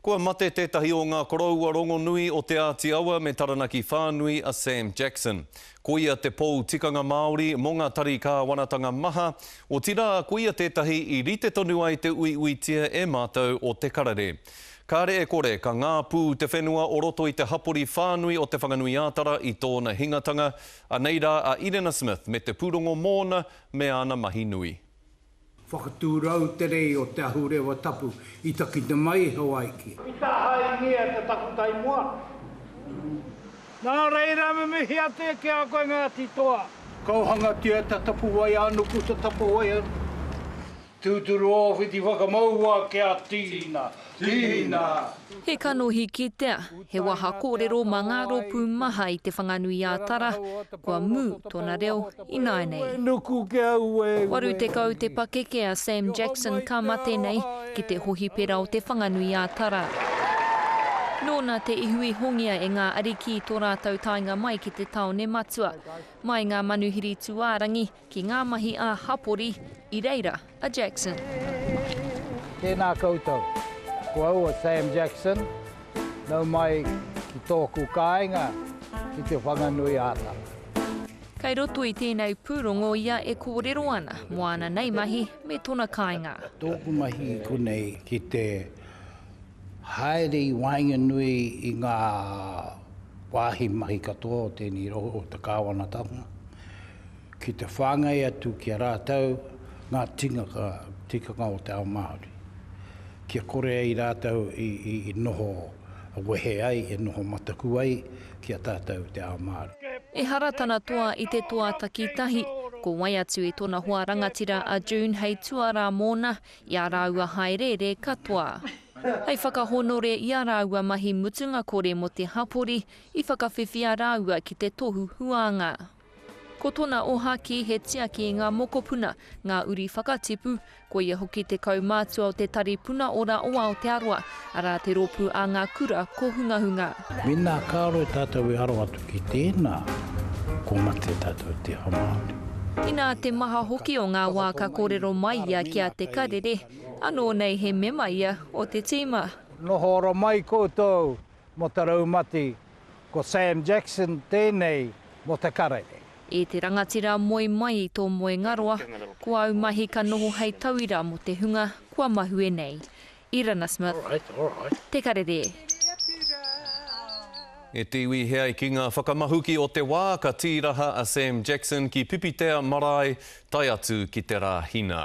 Kua mate tētahi o ngā koroua rongonui o Te Āti Awa me Taranaki whānui a Sam Jackson. Ko ia te pou tikanga Māori mō ngā tari kāwanatanga maha, otirā ko ia tētahi i rite tonu ai te uiuitia e mātou o Te Karere. Kāre e kore ka ngāpū te whenua o roto i te hapori whānui o Te Whanganui-ā-Tara i tōna hingatanga, anei rā a Irena Smith me te pūrongo mōna me āna mahi nui. Whakatūrau te rei o Te Ahurewa Tapu i takina mai e Hawaiki. I tahaingia te takutai moana nei. Nā reira me mihi atu ki a koe Ngāti Toa. Kauhangatia ta Tapuwae anuku ta Tapuwae anuku. Tūturu ōwhiti whakamaua ki a Tīna. Tīna! He kanohi kitea, he waha kōrero mā ngā rōpū maha i Te Whanganui-ā-Tara, kua mū tōna reo ināianei. 80 te pakeke a Sam Jackson ka mate nei ki te hohipera o Te Whanganui-ā-Tara. Nōna te ihu i hongia e ngā ariki i tō rātou taenga mai ki te tāone matua. Mai ngā manuhiri tūārangi, Ki ngā mahi ā hapori i reira a Jackson. Tēnā koutou. Ko au a Sam Jackson, nau mai ki tōku kāinga ki Te Whanganui āta. Kei roto i tēnei pūrongo ia e kōrero ana mō ana nei mahi me tona kāinga. Tōku mahi konei ki te haere i waenganui i ngā wāhi mahi katoa o tēnei rohe o te kāwanatanga, Ki te whāngai atu ki a rātou ngā tīngaka, tikanga o te ao Māori, kia kore ai rātou i noho wehe ai, e noho mataku ai ki a tātou te ao Māori. Ehara tana toa i te toa takitahi, ko wai atu i tona hoa rangatira a June hei tuarā mōna i a rāua hāereere katoa. Hei whakahonore i a rāua mahi mutunga kore mō te hapori, i whakawhiwhia rāua ki te tohu huānga. Ko tona ohaki he tiaki i nga mokopuna, nga uri whakatipu, koia hoki te kaumātua o te Tari Puna Ora o Aotearoa, ara te ropu a nga kura kohungahunga. Mena karo tatou e aro atu ki tena, ko mate tatou te aha Maori. Ina te maha hoki o nga wa ka korero mai ia ki a Te Karere, ano nei he mema ia o te tima. Noho ora mai koutou Mo te raumati, ko Sam Jackson tenei mo te karere. E te rangatira moe mai i tō moengaroa, ko āu mahi ka noho hei tauira mō te hunga kua mahue nei. Irana Smith. Te Karere. E te iwi he ai ki ngā whakamahuki o te wā ka tīraha a Sam Jackson ki Pipitea marae tae atu ki te Rāhina.